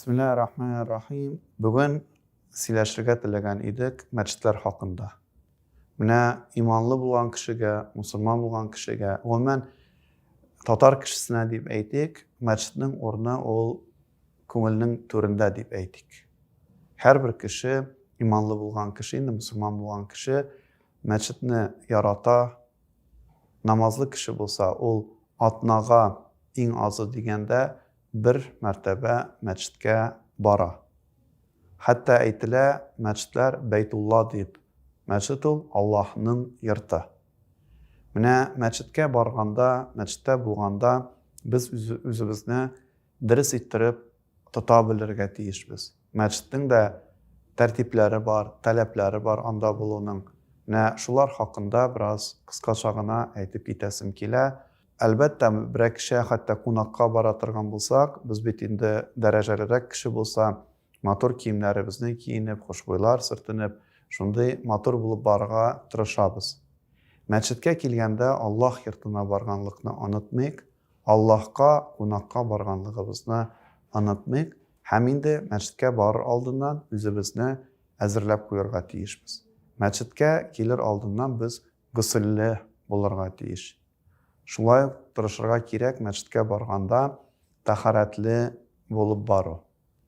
Бисмиллаһи рахмани рахим. Бүген сөйләшергә теләгән идек мәчетләр хакында. Менә иманлы булган кешегә, мусульман булган кешегә, гомумән татар кешесенә дип әйтик, мәчетнең урыны ул күңелнең түрендә дип әйтик. Һәрбер кеше, иманлы булган кеше, инде мусульман булган кеше мәчетне ярата, намазлы кеше булса, ул атнага иң азы дигәндә бер мәртәбә мәчеткә бара. Хәтта әйтелә, мәчетләр Бәйтулла дип, мәчет ул Аллаһның йорты. Менә мәчеткә барганда, мәчеттә булганда без үзебезне дөрес иттереп тота белергә тиешбез. Мәчетнең дә тәртипләре бар, таләпләре бар анда булуның. Менә шулар хакында бераз кыскача гына әйтеп китәсем килә. Әлбәттә, берәр кеше хәтта кунакка бара торган булсак, без бит инде дәрәҗәлерәк кеше булса, матур киемнәребезне киенеп, хушбуйлар сөртенеп, шундый матур булып барырга тырышабыз. Мәчеткә килгәндә Аллаһ йортына барганлыкны онытмыйк, Аллаһка кунакка барганлыгыбызны онытмыйк һәм инде мәчеткә барыр алдыннан үзебезне әзерләп куярга тиешбез. Мәчеткә килер алдыннан без госельле булырга тиеш. Шулай ук тырышырга кирәк мәчеткә барганда тәһарәтле булып бару.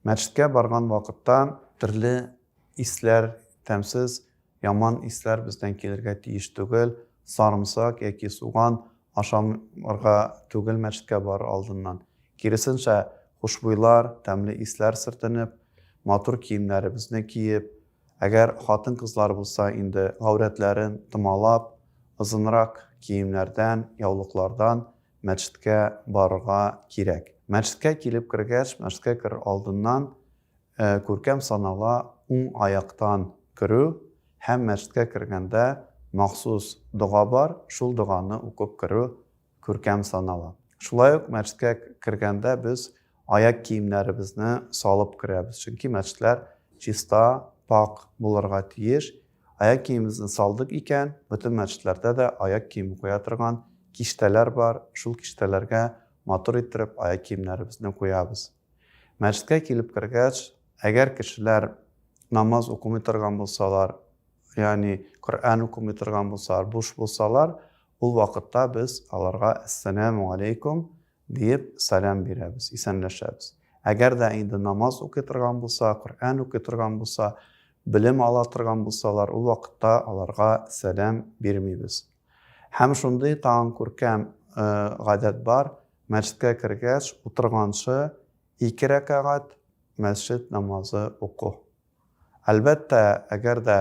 Мәчеткә барган вакытта төрле исләр, тәмсез, яман исләр бездән килергә тиеш түгел. Сарымсак яки суган ашамырга түгел мәчеткә барыр алдыннан. Киресенчә, хушбуйлар, тәмле исләр сөртенеп, матур киемнәребезне киеп, Әгәр хатын-кызлар булса инде гаурәтләрен томалап, озынрак киемнәрдән, яулыклардан мәчеткә барырга кирәк. Мәчеткә килеп кергәч, мәчеткә керер алдыннан күркәм санала уң аяктан керү һәм мәчеткә кергәндә махсус дога бар, шул доганы укып керү күркәм санала. Шулай ук мәчеткә кергәндә без аяк киемнәребезне салып керәбез, чөнки мәчетләр чиста, пакь булырга тиеш. Аяк киемебезне салдык икән, бөтен мәчетләрдә дә аяк киеме куя торган киштәләр бар, шул киштәләргә матур иттереп аяк киемнәребезне куябыз. Мәчеткә килеп кергәч, әгәр кешеләр намаз укымый торган булсалар, ягъни Коръән укымый торган булсалар, буш булсалар, Ул вакытта без аларга Әссәләмү аләйкүм диеп сәлам бирәбез, исәнләшәбез. Әгәр дә инде намаз укый торган булса, Коръән укый торган булса, белем ала торган булсалар, ул вакытта аларга сәлам бирмибез. Һәм шундый тагын күркәм гадәт бар, мәчеткә кергәч, утырганчы ике рәкәгать мәсҗид намазы уку. Әлбәттә, әгәр дә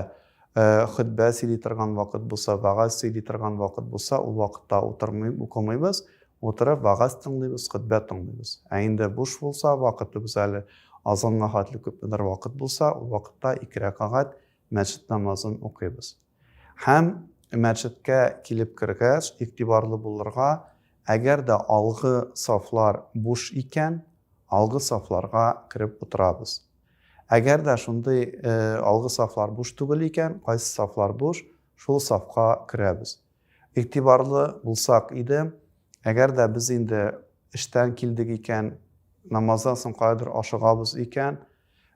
хөтбә сөйли торган вакыт булса, вәгазь сөйли торган вакыт булса, ул вакытта утырмый, укымыйбыз, утырып вәгазь тыңлыйбыз, хөтбә тыңлыйбыз. Ә инде буш булса, вакытыбыз әле азанга хәтле күпмедер вакыт булса, ул вакытта ике рәкагать мәчет намазын укыйбыз. Һәм мәчеткә килеп кергәч, игътибарлы булырга, әгәр дә алгы сафлар буш икән, алгы сафларга кереп утырабыз. Әгәр дә шундый алгы сафлар буш түгел икән, кайсы сафлар буш, шул сафка керәбез. Игътибарлы булсак иде, әгәр дә без инде эштән килдек икән, намаздан соң каядыр ашыгабыз икән,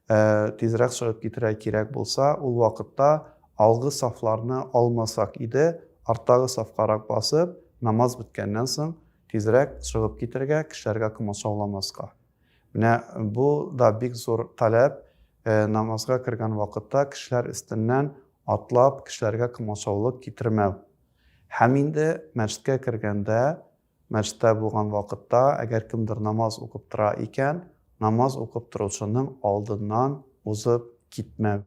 Ә тизрәк чыгып китәргә кирәк булса, ул вакытта алгы сафларны алмасак иде, арттагы сафкарак басып, намаз беткәннән соң тизрәк чыгып китәргә, кешеләргә комачауламаска. Менә бу да бик зур таләп, намазга кергән вакытта кешеләр өстеннән атлап, кешеләргә комачаулык китермәү. Һәм инде мәчеткә кергәндә, Мәчеттә булган вакытта, әгәр кемдер намаз укып тора икән, намаз укып торучының алдыннан узып китмәү.